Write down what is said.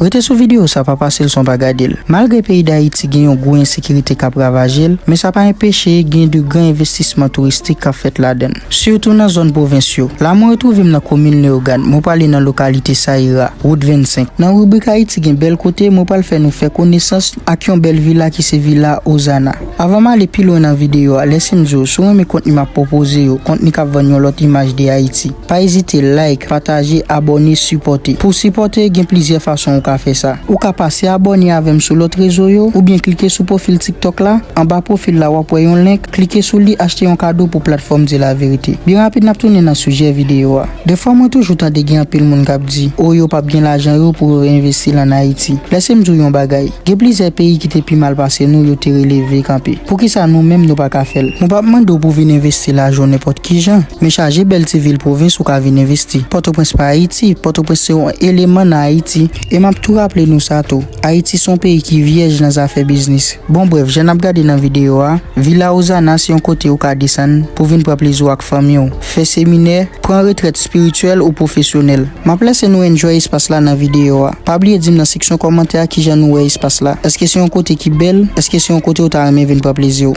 Rete sou videyo sa pa pase lson pa gade l. Malgre peyi Dayiti gen yon gwo ensekirite k ap ravaje l, men sa pa enpeche gen de gran envestisman touristik k ap fèt ladan l, sitou nan zòn pwovens yo. La mwen retwouve m nan komin Leyogàn, mwen prale nan lokalite Sayira, wout 25. Nan ribrik Ayiti gen bèl kote, mwen pral fè nou fè konesans ak yon bèl vila ki se Vila Ozana. Avan m ale pi lwen nan videyo a, lèse m di w, si w renmen kontni m ap pwopoze yo, kontni k ap vann yon lòt imaj de Ayiti, Pa ezite like, pataje, abòne, sipòte. Pou w sipòte, gen plizyè fason ou ka fè sa. Ou ka pase abòne avè m sou lòt rezo yo, oubyen klike sou pwofil TikTok la. Anba pwofil la w ap wè yon link, klike sou li achte yon kado pou platfòm Di La Vérité. Byen rapid n ap tounen nan sijè videyo a. Dèfwa mwen toujou tande gen anpil moun k ap di, o yo p ap gen lajan yo pou yo reinvesti l an Ayiti. Lèse m di w yon bagay. Gen plizyè peyi ki te pi mal pase nou yo te releve kanpe. Poukisa nou menm nou pa ka fè l? Mwen pap mande w pou vin envesti lajan w nenpòt kijan, men chaje bèl ti vil pwovens ou ka vin envesti. Pòtoprens pa Ayiti, Pòtoprens se yon eleman nan Ayiti. E map tou raple nou sa tou, Ayiti se yon peyi ki vyèj nan zafè biznis. Bon brèf, jan nap gade nan videyo a, Villa Ozana se yon kote ou ka desann pou vin pran plezi w ak fanmi w. fè seminè, pran retrèt spirityèl ou pwofesyonèl. Map lese nou enjoy espas la nan videyo a. Pa bliye dim nan seksyon kòmantè a kijan nou wè espas la. Eske se yon kote ki bèl? Eske se yon kote ou ta renmen vin pran plezi w?